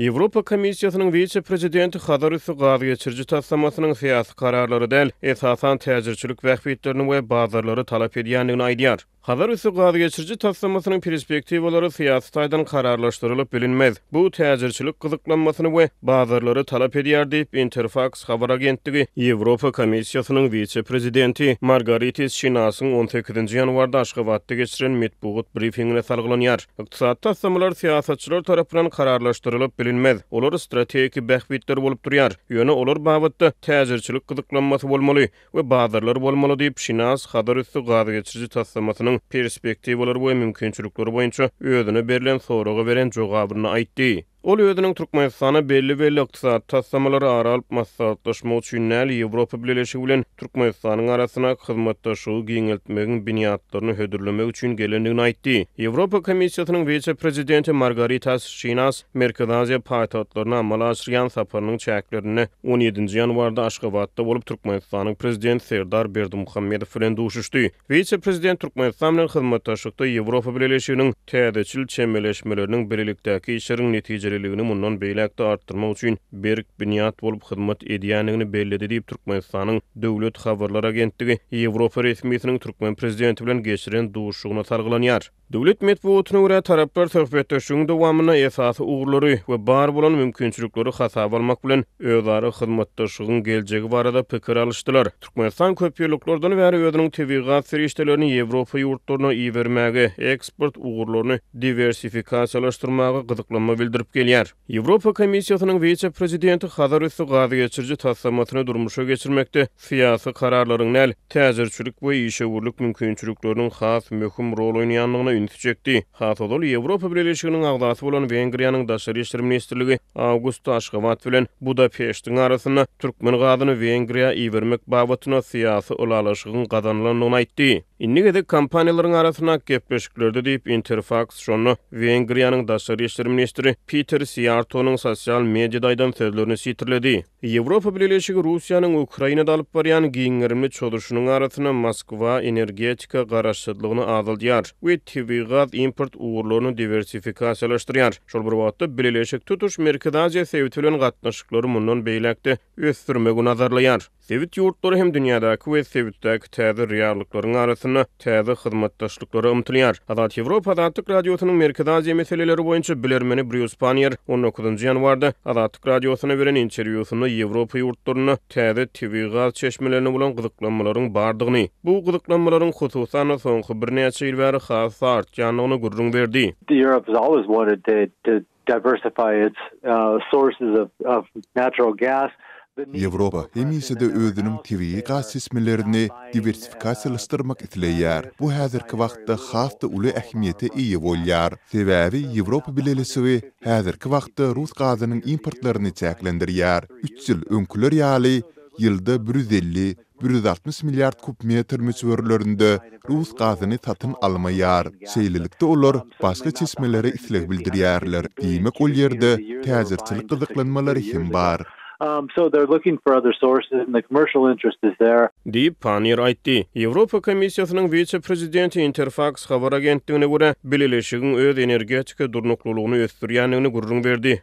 Ýewropa Komissiýasynyň wise-prezidenti Hazar üsti gaz geçiriji taslamasynyň syýasy kararlary däl, esasan täjirçilik bähbitlerini we bazarlary talap edýändigini aýdýar. Hazar üsti gaz geçiriji taslamasynyň perspektiwalary syýasy taýdan kararlaşdyrylyp bilinmez. Bu täjirçilik gyzyklanmasyny we bazarlary talap edýär diýip, Interfaks habar agentligi Ýewropa Komissiýasynyň wise-prezidenti Margaritis Şinasyň on sekizinji ýanwarda Aşgabatda geçiren metbugat brifingine salgylanýar. Ykdysady taslamalar syýasatçylar tarapyndan kararlaşdyrylyp bilinmez. Olar strategiki bähbitler bolup durýar, ýöne olar babatda täjirçilik gyzyklanmasy bolmaly we bazarlar bolmaly, diýip, Şinas Hazar üsti gazgeçiriji taslamasynyň perspektiwalary we mümkinçilikleri boýunça özüne berlen soraga beren jogabynda aýtdy. Ol özüniň Türkmenistana belli-belli ykdysady taslamalary ara alyp maslahatlaşmak üçin däl, Ýewropa Bileleşigi bilen Türkmenistanyň arasyndaky hyzmatdaşlygy giňeltmegiň binýatlaryny hödürlemek üçin gelendigini aýtdy. Ýewropa Komissiýasynyň wise-prezidenti Margaritas Şinas Merkezi Aziýa paýtagtlaryna amala aşyrýan saparynyň çäklerinde on ýedinji ýanwarda Aşgabatda bolup, Türkmenistanyň Prezidenti Serdar Berdimuhamedow bilen duşuşdy. Wise-prezident Türkmenistan bilen hyzmatdaşlykda Ýewropa Bileleşiginiň, Täzeçil çemeleşmeleriniň bilelikdäki işleriň netijeliligini mundan beýläk-de artdyrmak üçin berk binýat bolup hyzmat edýändigini belledi diýip, Türkmenistanyň Döwlet habarlar agentligi Ýewropa resmisiniň türkmen prezidenti bilen geçiren duşuşygynda salgylanýar. Döwlet metbugatyna görä, taraplar söhbetdeşligiň dowamynda esasy ugurlary we bar bolan mümkinçilikleri hasaba almak bilen, özara hyzmatdaşlygyň geljegi barada pikir alyşdylar. Türkmenistan köp ýyllyklardan bäri özüniň tebigy gaz serişdelerini Ýewropa ýurtlaryna ibermäge, eksport ugurlaryny diwersifikasiýalaşdyrmaga gyzyklanma bildirip gelýär. Ýewropa Komissiýasynyň wise-prezidenti Hazarüsti gazgeçiriji taslamasyny durmuşa geçirmekde syýasy kararlaryň däl, täjirçilik we işewürlik mümkinçilikleriniň has möhüm rol oýnaýandygyna ünsi çekdi. Has ozal Ýewropa Bileleşiginiň agzasy bolan Wengriýanyň Daşary işler ministrligi awgustda Aşgabat bilen Budapeştiň arasynda türkmen gazyny Wengriýa ibermek babatynda syýasy ylalaşygyň gazanylandygyny aýtdy. Indi gezek kompaniýalaryň arasyndaky gepleşiklerde diýip, Interfaks şonda Wengriýanyň Daşary işler ministri Piter Siýartonyň sosial mediada aýdan sözlerini sitirledi. Ýewropa Bileleşigi Russiýanyň Ukrainada alyp barýan giň gerimli çozuşynyň arasynda Moskwa energetika garaşsyzlygyny azaldýar we tebigy gaz import ugurlaryny diwersifikasiýalaşdyrýar. Şol bir wagtda, bileleşik tutuş Merkezi Aziýa sebiti bilen gatnaşyklary mundan beýläk-de ösdürmegi nazarlaýar. Sebit ýurtlary hem dünýädäki we sebitdäki täze reallyklaryň arasynda täze hyzmatdaşlyklara ymtylýar. Azat Ýewropa Azatlyk Radiosynyň Merkezi Aziýa meseleleri boýunça bilermeni Brýus Panniýer on dokuzynjy ýanwarda Azatlyk Radiosyna beren interwýusynda Ýewropa ýurtlarynda täze tebigy gaz çeşmelerine bolan gyzyklanmalaryň bardygyny, bu gyzyklanmalaryň hususan-da soňky birnäçe ýyl bäri has-da artýandygyny gürrüň berdi. Diversify its sources of natural gas. Ýewropa hemişe-de özüniň tebigy gaz çeşmelerini diwersifikasiýalaşdyrmak isleýär. Bu häzirki wagtda has-da uly ähmiýete eýe bolýar. Sebäbi Ýewropa Bileleşigi häzirki wagtda rus gazynyň importlaryny çäklendirýär. Üç ýyl öňküler ýaly, ýylda bir ýüz elli bir ýüz altmyş milliard kub metr möçberlerinde rus gazyny satyn almaýar. Şeýlelikde, olar başga çeşmelere isleg bildirýärler, diýmek, ol ýerde täjirçilik gyzyklanmalary hem bar. Diýip, Panniýer aýtdy. Ýewropa Komissiýasynyň wise-prezidenti Interfaks habar agentligine görä, bileleşigiň öz energetika durnuklylygyny ösdürýändigini gürrüň berdi.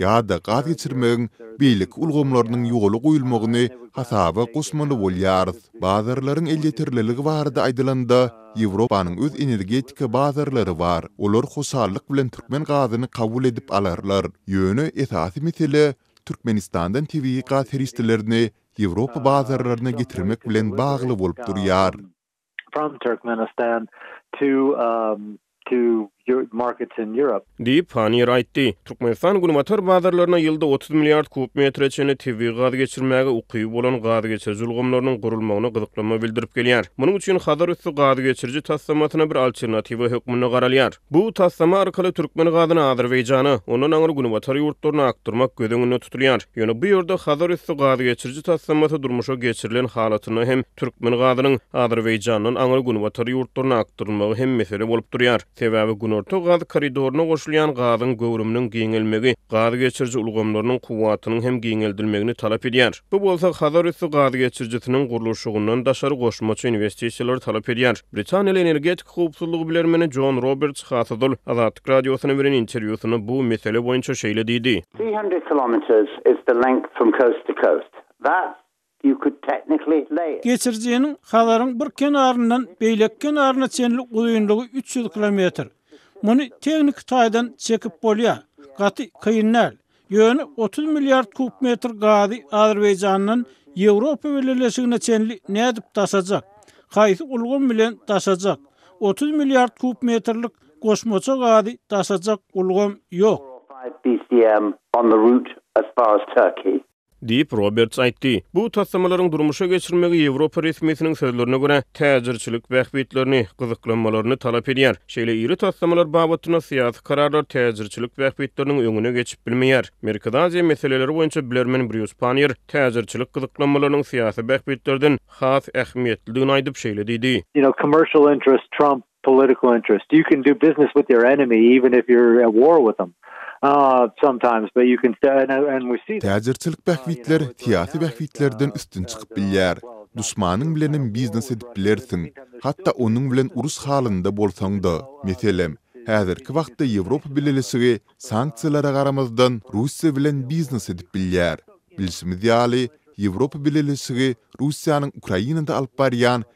ýa-da gaz geçirmegiň beýleki ulgamlarynyň ýola goýulmagyny hasaba goşmaly bolýarys. Bazarlaryň elýeterliligi barada aýdylanda, Ýewropanyň öz energetika bazarlary bar, olar hoşallyk bilen türkmen gazyny kabul edip alarlar. Ýöne esasy mesele Türkmenistandan tebigy gaz serişdelerini Ýewropa bazarlaryna getirmek bilen bagly bolup durýar. from Turkmenistan to um to your markets in Europe. Diýip, Panniýer aýtdy. Türkmenistan günbatar bazarlaryna ýylda otuz milliard kub metre çenli tebigy gaz geçirmäge ukyby bolan gazgeçiriji ulgamlarynyň gurulmagyna gyzyklanma bildirip gelýär. Munuň üçin Hazar üsti gazgeçiriji taslamasyna bir alternatiwa hökmünde garalýar. Bu taslama arkaly türkmen gazyny Azerbaýjana, ondan aňry günbatar ýurtlaryna akdyrmak göz öňünde tutulýar. Ýöne bu ýerde Hazarüsti gazgeçiriji taslamasy durmuşa geçirilen halatynda hem türkmen gazynyň Azerbaýjandan aňry günbatar ýurtlaryna akdyrylmagy hem mesele bolup durýar. Sebäbi Günorta gaz koridoryna goşulýan gazyň göwrüminiň giňelmegi gazgeçiriji ulgamlarynyň kuwwatynyň hem giňeldilmegini talap edýär. Bu bolsa Hazarüsti gazgeçirijisiniň gurluşygyndan daşary goşmaça inwestisiýalary talap edýär. Britaniýaly energetik Howpsuzlyk bilermeni Jon Roberts Hasadol Azatlyk Radiosyna beren interwýusynda bu mesele boýunça şeýle diýdi. Three hundred kilometres is the length from coast to coast. Thus, you could technically lay it. Geçirijiniň Hazaryň bir kenaryndan beýleki kenaryna çenli uzynlygy üç ýüz kilometr. Muny tehniki taýdan çekip bolýar. Gaty kyn däl. Ýöne otuz milliard kub metr gazy Azerbaýjandan Ýewropa Birleşigine çenli nädip daşajak? Haýsy ulgam bilen daşajak? Otuz milliard kub metrlik goşmaça gazy daşajak ulgam ýok. Diýip, Roberts aýtdy. Bu taslamalaryň durmuşa geçirilmegi Ýewropa resmisiniň sözlerine görä, täjirçilik bähbitlerini, gyzyklanmalaryny talap edýär. Şeýle iri taslamalar babatynda syýasy kararlar täjirçilik bähbitleriniň öňüne geçip bilmeýär. Merkezi Aziýa meseleleri boýunça bilermen Brýus Panniýer täjirçilik gyzyklanmalarynyň syýasy bähbitlerden has ähmiýetlidigini aýdyp, şeýle diýdi. political interest. You can do business with your enemy even if you're at war with them. Uh, sometimes but you can stay and and we see that. Täjirçilik bähbitler syýasy bähbitlerden üstün çykyp bilýär. Duşmanyň bilenem biznes edip bilersiň, hatda onuň bilen uruş halynda bolsaň-da. Meselem, häzirki wagtda Ýewropa Bileleşigi sanksiýalara garamazdan Russiýa bilen biznes edip bilýär. Bilşimiz ýaly, Ýewropa Bileleşigi Russiýanyň Ukrainada alyp barýan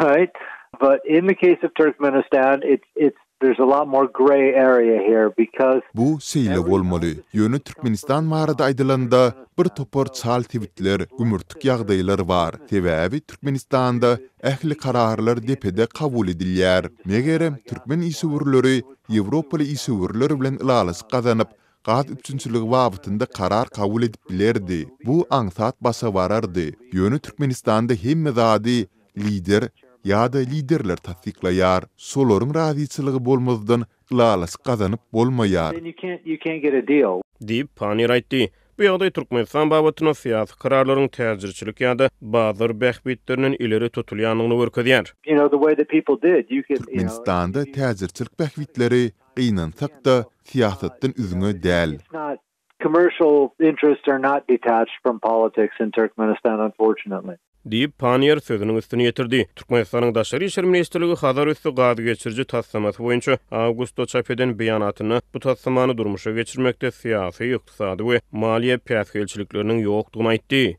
Tight, but in the case of Turkmenistan it's it's there's a lot more grey area here because. Bu şeýle bolmaly, ýöne Türkmenistan barada aýdylanda bir topar çal sebitler, gümürtik ýagdaýlar bar, sebäbi Türkmenistanda ähli kararlar depede kabul edilýär. Megerem, türkmen işewürleri ýewropaly işewürler bilen ylalaşyk gazanyp, gaz üpjünçiligi babatynda karar kabul edip bilerdi, bu aňsat başa barardy, ýöne Türkmenistanda hemme zady Lider ýa-da Liderler tassyklaýar, şolaryň razyçylygy bolmazdan ylalaşyk gazanyp bolmaýar. Diýip, Panniýer aýtdy. Bu ýagdaý Türkmenistan babatynda syýasy kararlaryň täjirçilik ýa-da bazar bähbitlerinden ileri tutulýandygyny görkezýär. Türkmenistanda täjirçilik bähbitleri Gynansak-da, syýasatdan üzňe däl. Diýip, Panniýer sözüniň üstüni ýetirdi. Türkmenistanyň Daşary işler ministrligi Hazarüsti gazgeçiriji taslamasy boýunça awgustda çap eden beýanatynda bu taslamany durmuşa geçirmekde syýasy, ykdysady we maliýe päsgelçilikleriniň ýokdugyny aýtdy.